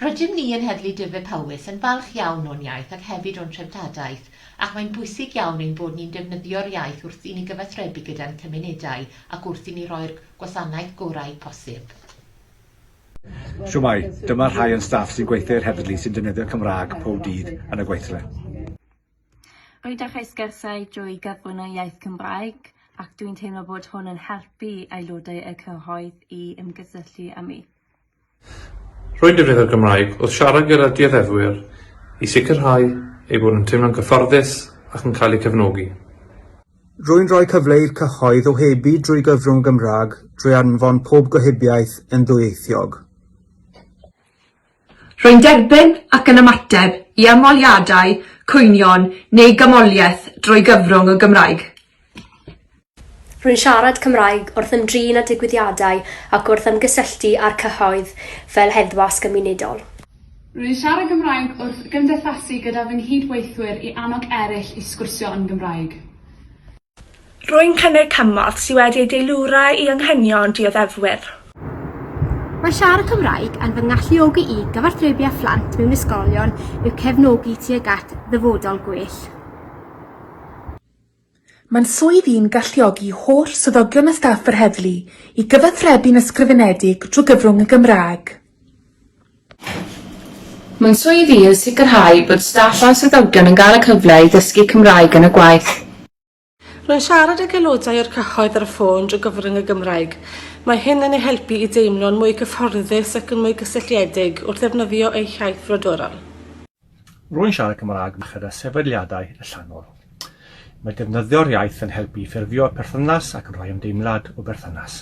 Rydym ni yn Heddlu Dyfed-Powys yn falch iawn o'n iaith ac hefyd o'n treftadaeth ac mae'n bwysig iawn ein bod ni'n defnyddio'r iaith wrth i ni gyfathrebu gyda'n cymunedau ac wrth i ni roi'r gwasanaeth gorau posib. Shwmae, dyma rhai o'n staff sy'n gweithio i'r heddlu sy'n defnyddio Cymraeg pob dydd yn y gweithle. Rydych ei sgyrsiau drwy gyfrwng y iaith Gymraeg ac dwi'n teimlo bod hwn yn helpu aelodau y cyhoedd i ymgysylltu â mi. Rwy'n defnyddio'r Gymraeg wrth siarad gyda dioddefwyr i sicrhau eu bod nhw'n teimlo'n gyfforddus ac yn cael eu cefnogi. Rwy'n rhoi cyfle i'r cyhoedd ohebu drwy gyfrwng y Gymraeg drwy anfon pob gohebiaeth yn ddwyieithog. Rwy'n derbyn ac yn ymateb i ymholiadau, cwynion neu gymholiaeth drwy gyfrwng y Gymraeg. Rwy'n siarad Cymraeg wrth ymdrin â digwyddiadau ac wrth ymgysylltu â'r cyhoedd fel heddwas gymunedol. Rwy'n siarad Cymraeg wrth gymdeithasu gyda fy nghyd-weithwyr i annog eraill i sgwrsio yn Gymraeg. Rwy'n cynnig cymorth sydd wedi ei deilwra i anghenion dioddefwyr. Mae siarad Cymraeg yn fy ngalluogi i gyfathrebu â phlant mewn ysgolion i'w cefnogi tuag at ddyfodol gwell. Mae'n swydd i'n galluogi holl swyddogion a staff yr heddlu i gyfathrebu'n ysgrifenedig drwy gyfrwng y Gymraeg. Mae'n swydd i yn sicrhau bod staff a'n swyddogion yn cael y cyfle i ddysgu Cymraeg yn y gwaith. Rwy'n siarad ag aelodau o'r cyhoedd ar y ffôn drwy gyfrwng y Gymraeg. Mae hyn yn eu helpu i deimlo'n mwy cyfforddus ac yn mwy cysylltiedig wrth ddefnyddio eu hiaith frodorol. Rwy'n siarad Cymraeg merched a sefydliadau allanol. Mae defnyddio'r iaith yn helpu i ffurfio perthynas ac yn rhoi ymdeimlad o berthynas.